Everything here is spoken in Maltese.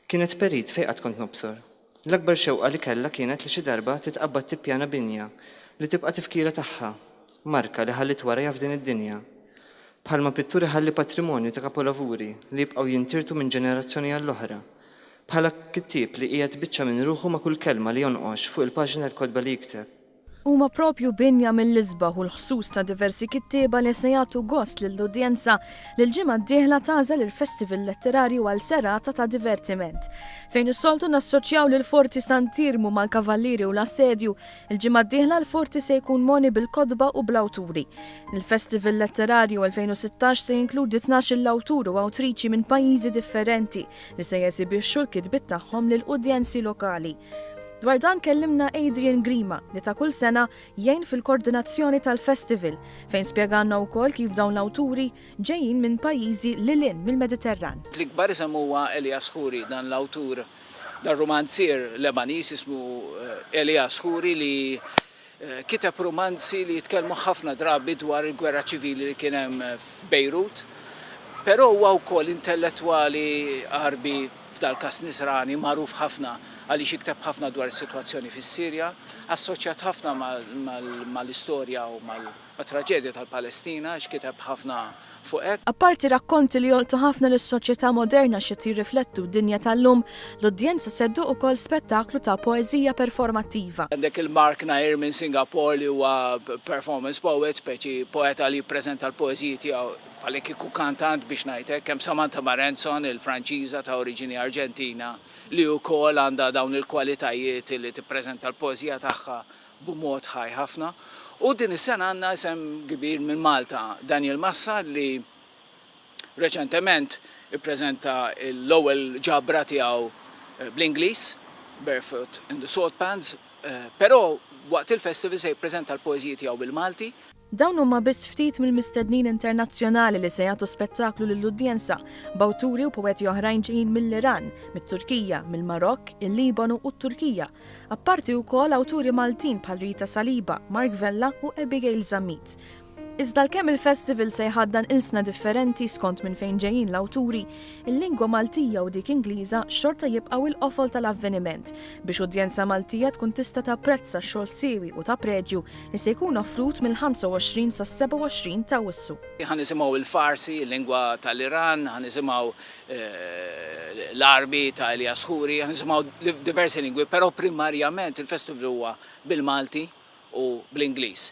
Kienet perit fejn qatt kont nobsor. L-akbar xewqa li kellha kienet li xi darba titqabbad tippjana binja li tibqa' tifkira tagħha, marka li ħalliet warajha f'din id-dinja. Bħalma pittur iħalli patrimonju ta' kapolavuri li jibqgħu jintirtu minn ġenerazzjoni għall-oħra, bħala kittieb li qiegħed biċċa minn ruħu ma' kull kelma li jonqox fuq il-paġni tal-kotba li jikteb. Huma proprju binja mill-isbaħ u l-ħsus ta' diversi kittieba li se jagħtu gost lill-udjenza li l-ġimgħa d-dieħla tagħżel il-Festival Letterarju għal serata ta' divertiment. Fejn is-soltu nassoċjaw lill-Forti Sant'Iermu mal-Kavallieri u l-Assedju, il-ġimgħa d-dieħla l-Forti se jkun mogħni bil-kotba u bl-awturi. Il-Festival Letterarju 2016 se jinkludi tnax-il awtur u awtriċi minn pajjiżi differenti. li se jesibixxu l-kitbiet tagħhom lil udjenzi lokali. Dwar dan kellimna Adrian Grima li ta' kull sena jgħin fil-kordinazzjoni tal-festival fejn spjegalna wkoll kif dawn l-awturi ġejjin minn pajjiżi lil hinn mill-Mediterran. L-ikbar isem huwa Elias Khoury, dan l-awtur, dan rumanzier Lebaniż jismu Elias Khoury li Kiteb rumanzi li jitkellmu ħafna drabi dwar il-gwerra ċivili li kien hemm f'Bejrut. Però huwa wkoll intellettwali Għarbi, f'dal-każ Nisrani, magħruf ħafna għaliex jikteb ħafna dwar is-sitwazzjoni fis-Sirja, assoċjat ħafna mal-istorja u mat-traġedja tal-Palestina għax kiteb ħafna fuq hekk. Apparti rakkonti li jolqtu ħafna lis-soċjetà moderna x'qed jirriflettu d-dinja tal-lum, l-udjenza se ddoqq ukoll spettaklu ta' poeżija performattiva. Għandek lil Mark Nair minn Singapore li huwa performance poet, speċi poeta li jippreżenta l-poeżiji tiegħu bħallikieku kantant biex ngħid hekk. Hemm Samantha Marenson, il-Franċiża ta' oriġini Arġentina li wkoll għandha dawn il-kwalitajiet li tippreżenta l-poeżija tagħha b'mod ħaj ħafna u din is-sena għandna isem kbir minn Malta, Daniel Massa li reċentement ippreżenta l-ewwel ġabra tiegħu bl-Ingliż, Barefoot in the Salt Pans, però waqt il-festival se jippreżenta l-poeżiji tiegħu bil-Malti. Dawn huma biss ftit mill-mistednin internazzjonali li se jagħtu spettaklu lill-udjenza, b'awturi u poeti oħrajn ġejjin mill-Iran, mit-Turkija, mill-Marokk, il-Libanu u t-Turkija. Apparti wkoll awturi Maltin bħal Rita Saliba, Mark Vella u Abigail Zammit. Iżda għalkemm il-festival se jħaddan ilsna differenti skont minn fejn ġejjin l-awturi, il-lingwa Maltija u dik Ingliża xorta jibqgħu il-qofol tal-avveniment, biex udjenza Maltija tkun tista' tapprezza x-xogħol siewi u ta' preġju li se jkun offrut mill-25 sas-27 ta' Awwissu. Ħa nisimgħu l-Farsi, il-lingwa tal-Iran, ħa nisimgħu l-Għarbi ta' Elias Khoury, ħa nisimgħu diversi lingwi, però primarjament il-festival huwa bil-Malti u bl-Ingliż.